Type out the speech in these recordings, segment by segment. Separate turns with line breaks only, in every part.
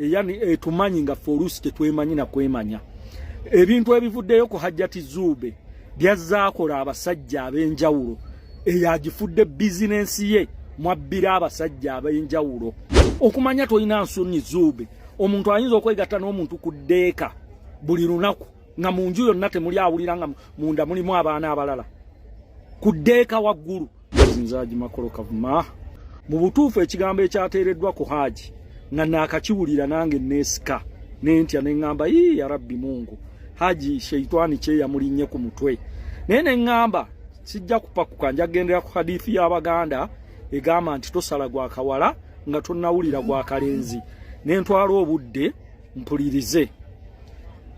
Eh, yani eh, tumanyi nga forusi tetwemanyi na kwemanya ebintu ebivuddeyo ku hajjati zuube byazaakola abasajja ab'enjawulo eyo agifudde bizinensi ye mwabbira abasajja ab'enjawulo okumanya tolina nsonyi zuube omuntu ayinza okwegatta n'omuntu ku ddeeka buli lunaku nga mu nju yonna temuli awulira nga munda mulimu abaana abalala ku ddeeka waggulu nze haji makolo kavuma mu butuufu ekigambo ekyateereddwa ku haji nga naakakiwulira nange neesika nentya ne ŋŋamba yii ya rabbi mungu haji sheitwani kyeyamulinnye ku mutwe naye ne ŋŋamba sijja kupakuka nja kugendera ku hadithi y'abaganda egamba nti tosala gwa kawala nga tonnawulira gwa kalenzi ne ntwala obudde mpulirize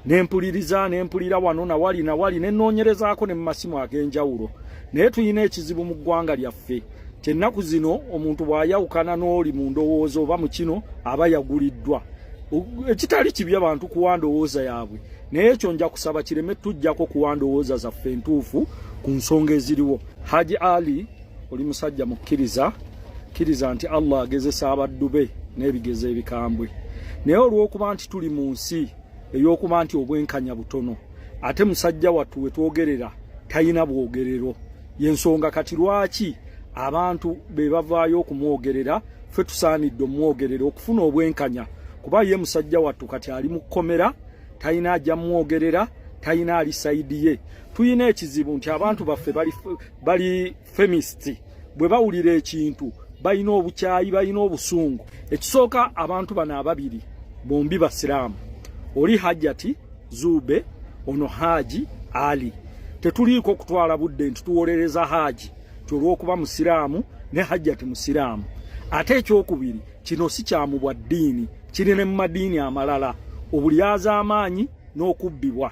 nempuliriza nempulira wano nawali nawali nenoonyerezaako ne mu masimu ag'enjawulo naye tulina ekizibu mu ggwanga lyaffe kyennaku zino omuntu bw'ayawukana n'oli mu ndowooza oba mu kino aba yaguliddwa ekitali kibi abantu kuwa ndowooza yaabwe naye ekyo nja kusaba kireme tujjako kuwa ndowooza zaffe entuufu ku nsonga eziriwo haji ali oli musajja mukkiriza kkiriza nti allah agezesa abaddu be n'ebigezo ebikambwe naye olw'okuba nti tuli mu nsi ey'okuba nti obwenkanya butono ate musajja wattu we twogerera talina bwogerero y'ensonga kati lwaki abantu be bavaayo okumwogerera ffe tusaanidde omwogerera okufuna obwenkanya kuba ye musajja wattu kati ali mu kkomera talina ajja mwogerera talina ali sayidi ye tulina ekizibu nti abantu baffe bali bali femist bwe bawulira ekintu balina obukyayi balina obusungu ekisooka abantu bano ababiri bombi basiraamu oli hajjati zuube ono haaji ali tetuliiko okutwala budde nti tuwolereza haaji ti olw'okuba musiraamu ne hajjati musiraamu ate ekyokubiri kino si kyamu bwa ddiini kiri ne mu madiini amalala obulyazaamaanyi n'okubbibwa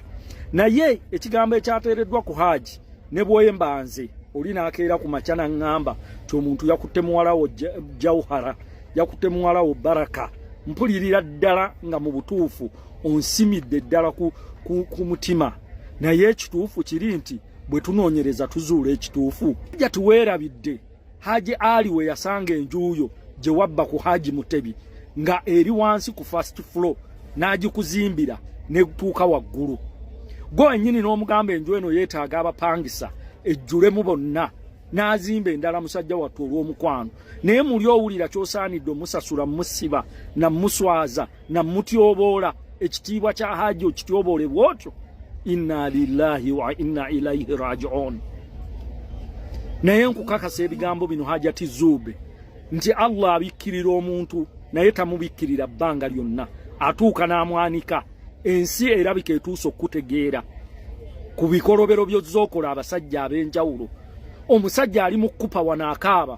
naye ekigambo ekyateereddwa ku haaji ne bwemba nze oli nakeera ku makya naŋŋamba ti omuntu yakutte muwalawo jauhara yakutte muwalawo baraka mpulirira ddala nga mu butuufu onsimidde ddala ku, ku, ku mutima naye ekituufu kiri nti bwe tunoonyereza tuzuula ekituufu jati weerabidde Haji Ali we yasanga enjuuyo gye wabba ku Haji Mutebi nga eri wansi ku first floor n'agikuzimbira netuuka waggulu gwe wenyini n'omugamba enju eno yeetaaga abapangisa ejjulemu bonna n'azimba endala musajja wattu olw'omukwano naye muli owulira ky'osaanidde omusasula musiba namuswaza na mutyoboola ekitiibwa kya haji okityoboole bwotyo inna lillahi wa inna ilaihi rajiun naye nkukakasa ebigambo bino hajati zuube nti allah abikkirira omuntu naye tamubikkirira bbanga lyonna atuuka n'amwanika ensi erabika etuusa okukutegeera ku bikolobero byozookola abasajja ab'enjawulo omusajja ali mu kukupa wano akaaba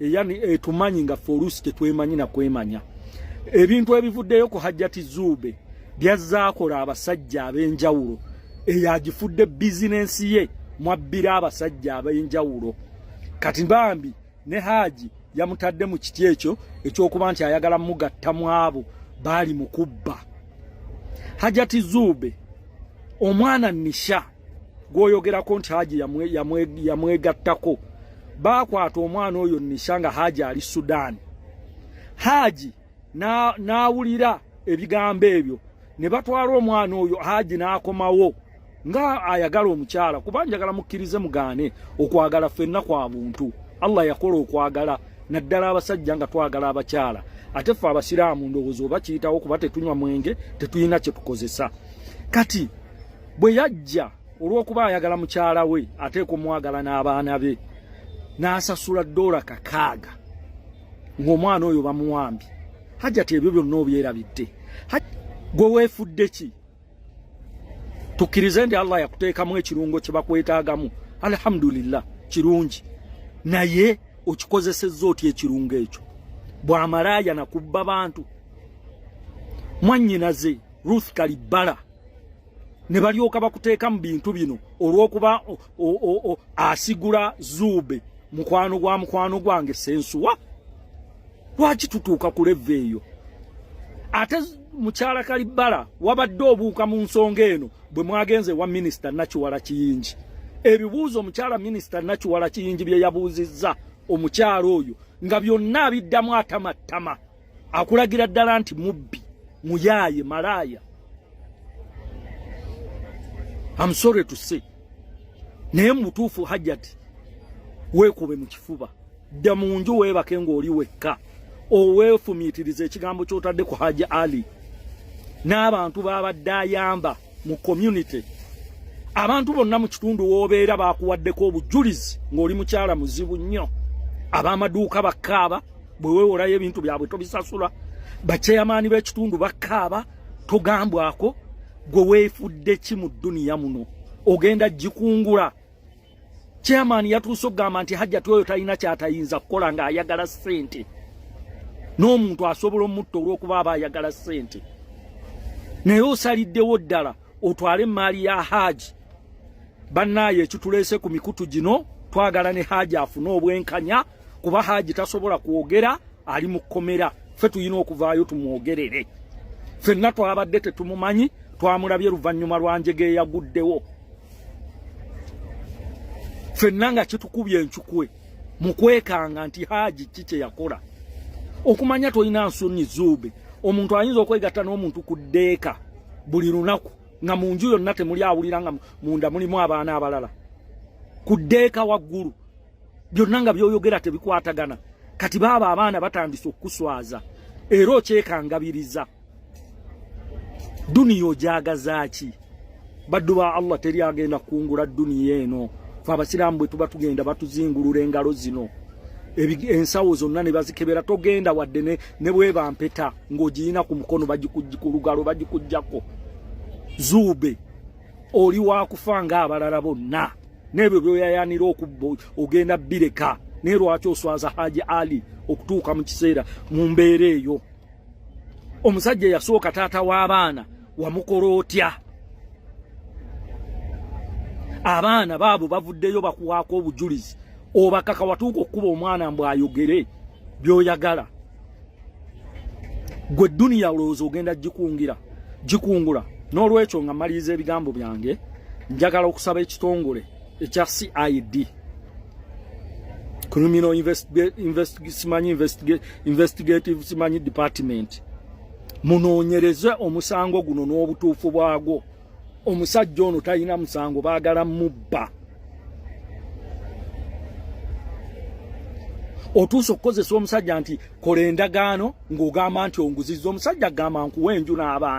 Eh, yani eh, tumanyi nga forusi tetwemanyi na kwemanya ebintu ebivuddeyo ku hajjati zuube byazaakola abasajja ab'enjawulo eyagifudde bizinensi ye mwabbira abasajja ab'enjawulo kati bambi ne haaji yamutadde mu kiti ekyo ekyokuba nti ayagala mugatta mu abo baali mu kubba hajjati zuube omwana nisha gwoyogerako nti haji yamwegattako yamwe, yamwe baakwata omwana oyo nisha nga haji ali sudaani haji n'awulira na ebigambo ebyo ne batwala omwana oyo haji n'akomawo nga ayagala omukyala kuba njagala mukkirize mugaane okwagala ffenna kwa buntu allah yakola okwagala naddala abasajja nga twagala abakyala ate ffe abasiraamu ndowooza oba kiyitawo kuba tetunywa mwenge tetulina kye tukozesa kati bwe yajja olw'okuba ayagala mukyala we ateeka omwagala n'abaana be n'asasula doola kakaaga ng'omwana oyo bamuwambye hajjati ebyo byonna obyerabidde gwe weefudde ki tukkirize nti allah yakuteekamu ekirungo kye bakwetaagamu alhamdulillah kirungi naye okikozesezza otya ekirungo ekyo bwamalaaya nakubba bantu mwannyinaze ruth kalibbala ne balyoka bakuteeka mu bintu bino olw'okuba asigula zuube mukwano gwa mukwano gwange sensuwa lwaki tutuuka ku leva eyo ate mukyala kalibbala wabadde obuuka mu nsonga eno bwe mwagenze wa minisita nakiwala kiyingi ebibuuzo omukyala minisita nakiwala kiyingi bye yabuuzizza omukyala oyo nga byonna abiddamu atamattama akulagira ddala nti mubbi muyaye malaaya am sorry to say naye mubutuufu hajjati weekube mu kifuba dda mu nju weebake ng'oli wekka oweefumiitiriza ekigambo ky'otadde ku haji ali n'abantu baabadde ayamba mu community abantu bonna mu kitundu w'obeera baakuwaddeko obujulizi ng'oli mukyala muzibu nnyo ab'amaduuka bakaaba bwe weewolayo ebintu byabwe tobisasula bakyeyamaani b'ekitundu bakaaba togambwako gwe weefudde ki mu dduniya muno ogenda gikungula chairman yatuuse okugamba nti hajjati oyo talina kyatayinza kukola ng'ayagala ssente n'omuntu asobola omutta olw'okuba aba ayagala ssente naye osaliddewo ddala otwale emmaali ya haaji bannaayo ekituleese ku mikutu gino twagala ne haaji afune obwenkanya kuba haji tasobola kwogera ali mu kkomera ffe tulina okuvaayo tumwogerere ffenna twabadde tetumumanyi twamulabye luvannyuma lwa njega eyaguddewo ffenna nga kitukubye encukwe mu kwekanga nti haji ki kye yakola okumanya tolina nsonyi zuube omuntu ayinza okwegatta n'omuntu ku ddeeka buli lunaku nga mu nju yonna temuli awulira nga munda mulimu abaana abalala ku ddeeka waggulu byonna nga byoyogera tebikwatagana kati baaba abaana batandise okukuswaza era okyekangabiriza duniya ojagazaaki baddu ba allah teri agenda kukungula duniya eno fe abasiraamu bwe tuba tugenda batuzingulula engalo zino ensawo zonna ne bazikebera togenda wadde ne bwebampeta ng'ogiyina ku mukono bagikujja ku lugalo bagikugjako zuube oli wakufa nga abalala bonna n'ebyo byoyayanira okubba ogenda bireka naye lwaki oswaza haji ali okutuuka mu kiseera mu mbeera eyo omusajja yasooka taata w'abaana wamukola otya abaana baabo bavuddeyo bakuwaako obujulizi obakaka watuuka okukuba omwana mbw ayogere byoyagala gwe duniya olowooza ogenda gikungira gikungula n'olwekyo nga maliriza ebigambo byange njagala okusaba ekitongole ekya cid criminal simanyi investigative simanyi department munoonyereze omusango guno n'obutuufu bwagwo omusajja ono talina musango baagala mubba otuusa okukozesa omusajja nti kola endagaano ng'ogamba nti onguzizza omusajja gamba nkuwa enju n'abaana